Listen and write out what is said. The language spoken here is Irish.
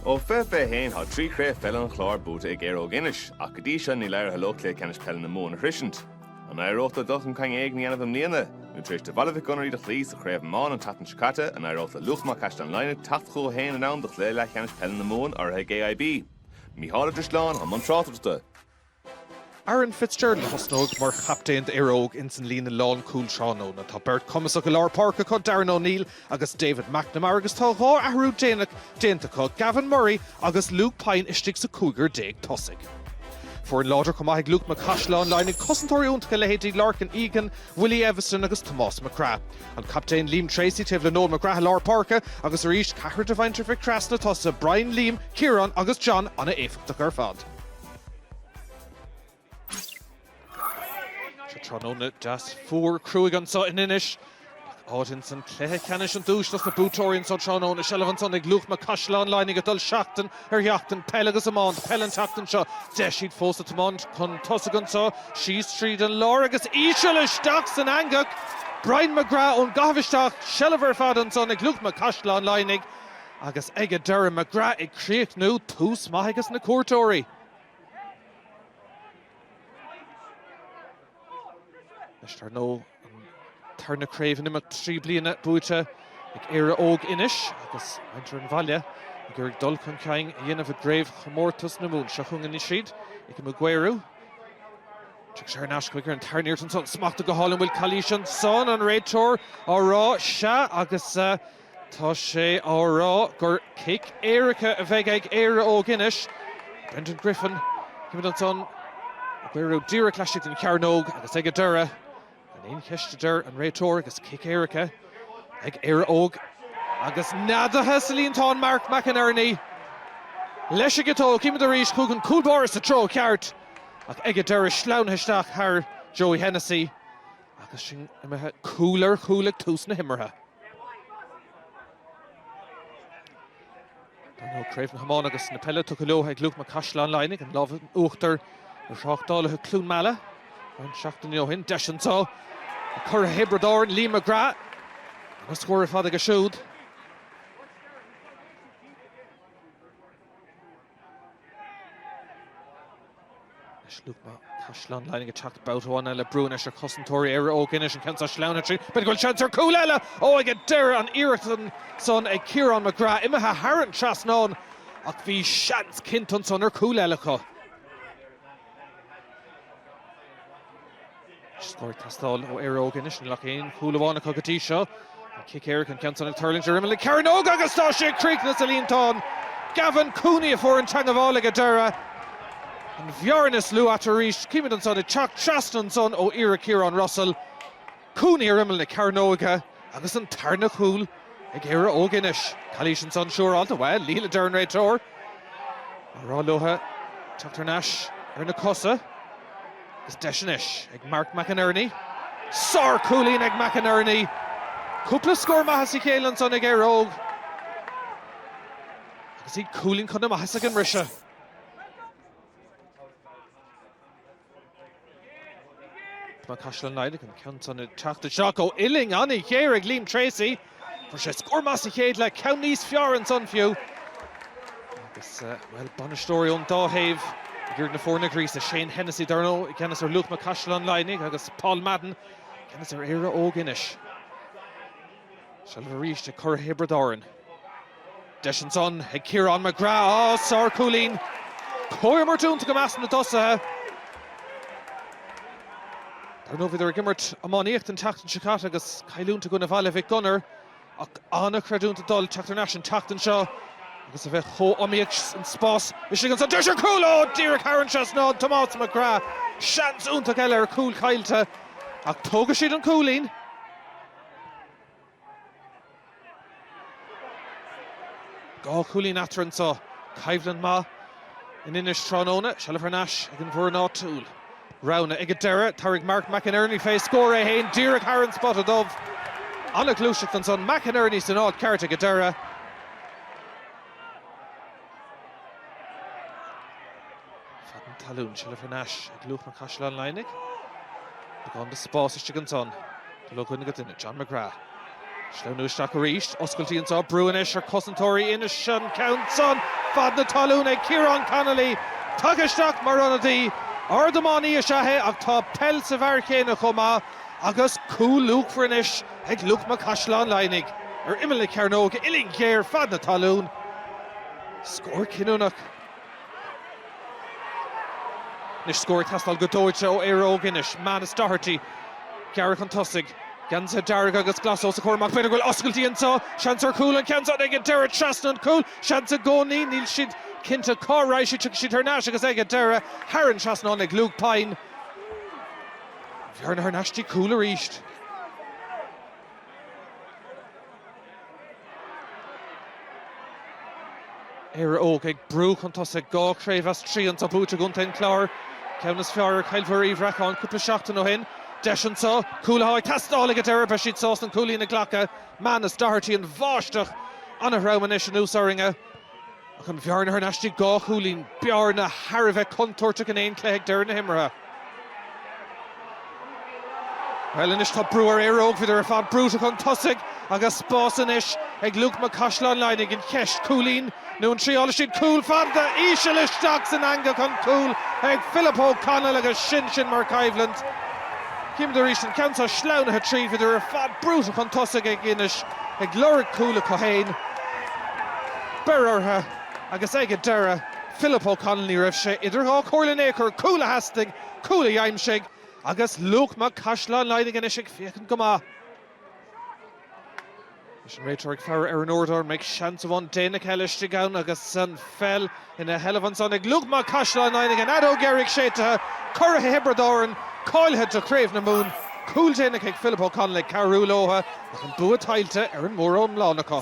Ó fiche fiche haon thá trí Chraobh Pheile an Chláir buaite ag Éire Óg Inis ach go dtí seo níl éirithe leo Cluiche Ceannais Peile na Mumhan a shroisint. An éireoidh leo dul chun cinn éigin a dhéanamh i mbliana? Nó tar éis do Bhaile Mhic Gonair í do chloí sa Chraobh Iomána an tseachtain seo caite, an éireoidh le Luachma Caisleán Laighnigh teacht chucu féin in am do Chluiche Leathcheannais Peile na Mumhan urraithe ag AIB? Micheál Ó Drisleáin, i mbun tráchtaireachta. Aaron Fitzgerald a thosnóidh mar chaptaen d'Éire Óg insan líne lánchúil tráthnóna. Tá beirt cumasach i lár páirce acu, Darren O'Neill agus David McNamara agus tá dhá athrú déanach déanta acu, Gavin Murray agus Luke Pyne istigh sa cúigear déag tosaigh. Foireann láidir chomh maith ag Luachma Caisleán Laighnigh, cosantóirí iontacha leithéidí Lorcan Egan, Willie Eviston agus Tomás McGrath. An captaen Liam Treacy taobh le Noel McGrath i lár páirce agus arís, ceathrar de mhuintir Mhic Craith sna tosaithe, Brian, Liam, Ciarán agus John an-éifeachtach ar fad. Tráthnóna deas fuar cruaidh anseo in Inis. Áit insan cluiche ceannais an duais dos na buaiteoirí anseo tráthnóna. Seilbh ansan ag Luachma, Caisleán Laighnigh ag dul seachtain ar sheachtain. Peil agus iomáint, peil an tseachtain seo. Deis, iad fós ag tiomáint chun tosaigh anseo. Síos tríd an lár agus íseal isteach san eangach. Brian McGrath ón gcaitheamh isteach. Seilbh ar fad ansan ag Luachma, Caisleán Laighnigh. Agus ag a deireadh McGrath ag críochnú, tús maith aige sna cuairteoirí. Anois dar ndóigh an tarna craobh in imeacht trí bliana buaite ag Éire Óg Inis agus muintir an bhaile ag iarraidh dul chun cinn a dhéanamh i gCraobh Chomórtas na Mumhan. Seo chugainn isteach ag Mark McInerney. Tugann sé ar ais chuig Ronan Lanigan ansan. Smachta go hálainn bhfuil calaois ansan an réiteoir á rá sea agus uh, Tá sé á rá gur cic éirice a bheidh ag Éire Óg Inis. Brendan Griffin, címid ansan, Cooney díreach laistigh den chearnóg agus ag a deireadh. Gan aon cheist a deir an réiteoir agus cic éirice ag Éire Óg. Agus neadaithe sa líontán Mark McInerney. Leis an gciteog címid arís chuig an cúl báire sa treo ceart ach ag a deireadh sleamhnaithe isteach thar Joey Hennessy. Agus sin imithe cúl ar chúl ag tús na himeartha, Craobh na hIomána agus na Peile tugtha leo ag Luachma Caisleán Laighnigh, an lámh in uachtar ar Thráchtálaithe Cluain Meala roinnt seachtainí ó shin. Deis anseo ag curaidh Thiobraid Árann, Liam McGrath, agus scór ar fad aige siúd. Anois Luachma Caisleán Laighnigh ag teacht babhta amháin eile. Brú anois ar chosantóirí Éire Óg Inis, an ceann seo sleamhnaithe tríd, b'fhéidir go bhfuil seans ar chúl eile! Ó, ag an deireadh an iarracht ansan ag Ciarán McGrath imithe thar an trasnán ach bhí seans cinnte ansan ar chúl eile acu. Scór ag teastáil ó Éire Óg Inis, níl ach aon chúl amháin acu go dtí seo. An cic éirice, an ceann san ag tuirlingt ar imeall na cearnóige agus tá sé ag críochnú sa líontán! Gavin Cooney a fuair an teagmháil ag an deireadh. An bhearna is lú eatarthu arís. Chímid ansan ag teacht trasna ansan ó iarracht Ciaran Russell. Cooney ar imeall na cearnóige agus an tarna chúl ag Éire Óg Inis. Calaois ansan, siúráilte, bhuel, níl, a deir an réiteoir. Á rá leotha teacht thar n-ais ar na cosa. Agus deis anois ag Mark McInerney. Sár-chúilín ag McInerney. Cúpla scór maith as a chéile ansan ag Éire Óg. Agus iad cúilín chun na maitheasa ag an mbriseadh. Luachma Caisleán Laighnigh an ceann san teacht isteach ó uillinn an-ghéar ag Liam Treacy. Fuair sé scór maith sa chéad leath, ceann níos fearr ansan fiú. Agus, bhuel, bainisteoirí ón dá thaobh ag iarraidh na foirne a ghríosadh, Shane Hennessy, dar ndóigh i gceannas ar Luachma Caisleán Laighnigh, agus Paul Madden i gceannas ar Éire Óg Inis. Seilbh arís ag curaidh Thiobraid Árann. Deis ansan ag Ciarán McGrath. Á! Sárchúilín! Comhimirt iontach i measc na dtosaithe. Dar ndóigh bhíodar ag imirt iománaíochta an tseachtain seo caite agus cailliúint i gcoinne Bhaile Mhic Gonair ach an-chreidiúint ag dul teacht thar n-ais an tseachtain seo agus a bheith chomh hiomaíoch san spás istigh ansan. Deis ar chúl! Ó! Díreach thar an trasnán Tomás McGrath. Seans iontach eile ar chúl caillte ach tógfaidh siad an cúilín. Dhá chúilín eatarthu anseo. Coimhlint mhaith in Inis tráthnóna. Seilbh thar n-ais ag an bhfoireann áitiúil. Roghanna ag an deireadh. Tabharfaidh Mark McInerney fé scór é fhéin díreach thar an spota dubh. An-ghluaiseacht ansan. McInerney san áit cheart ag an deireadh. Fad na talún, seilbh thar n-ais ag Luachma Caisleán Laighnigh. Beagán de spás istigh ansan. Dul ó dhuine go duine, John McGrath. Sleamhnú isteach arís, oscailtí anso, brú anois ar cosantóirí Inis, an ceann san, fad na talún ag Ciarán Connolly. Tagtha isteach mar ionadaí, ardiománaí is ea é ach tá peil sa bhfear chéanna chomh maith agus cúl luachmhar anois. ag Luachma Caisleán Laighnigh ar imeall na cearnóige uillinn ghéar fad na talún. Scór cinniúnach. Anois scór ag teastáil go dóite ó Éire Óg Inis, Manus Doherty. Gearradh chun tosaigh. Geansaithe dearga agus glasa os a chomhair amach. B'fhéidir go bhfuil oscailtí anseo. Seans ar chúl. An ceann seo ag an deireadh trasna an chúil. Seans i gcónaí. Níl siad cinnte cá raibh sé. Tiocfaidh siad thar n-ais agus ag an deireadh thar an trasnán ag Luke Pyne. Bearna thar n-ais dtí cúl arís. Éire Óg ag brú chun tosaigh dhá chraobh as trí anseo buaite i gcontae an Chláir. Ceann is fearr ar Chill Mhuire Uí Bhreacáin cúpla seachtain ó shin. Deis anseo. Cúl atá ag teastáil ag an deireadh. Beidh siad sásta an cúilín a ghlacadh. Manus Doherty. An bháisteach ana-throm anois anuas orainne. Ach an bhearna thar n-ais dtí dhá chúilín, bearna thar a bheith contúirteach in aon chluiche ag deireadh na himeartha. Bhuel, anois tá brú ar Éire Óg, bhíodar ar fad brúite chun tosaigh agus spás anois ag Luachma Caisleán Laighnigh. An cheist, cúilín nó an dtriailfidh siad cúl? Fada íseal isteach san eangach, an cúl ag Philip O'Connell agus sin sin mar choimhlint. Chímid arís an ceann so sleamhnaithe tríd, bhíodar ar fad brúite chun tosaigh ag Inis. ag lorg cúl acu féin, beirthe ortha agus ag an deireadh Philip O'Connell Ní raibh sé idir dhá chomhairle in aon chor, cúl a theastaigh, cúl a dh'aimsigh agus Luachma Caisleán Laighnigh anois ag féachaint go maith. Is an réiteoir ag faire ar an uaireadóir, an mbeidh seans amháin déanach eile istigh ann agus an pheil. Ina sheilbh ansan ag Luachma Caisleán Laighnigh an fheadóg dheiridh séidtithe, curaithe Thiobraid Árann, cáilithe do Chraobh na Mumhan, cúl déanach ag Philip O'Connell ag cabhrú leotha ach an bua tuillte ar an mór-iomlán acu.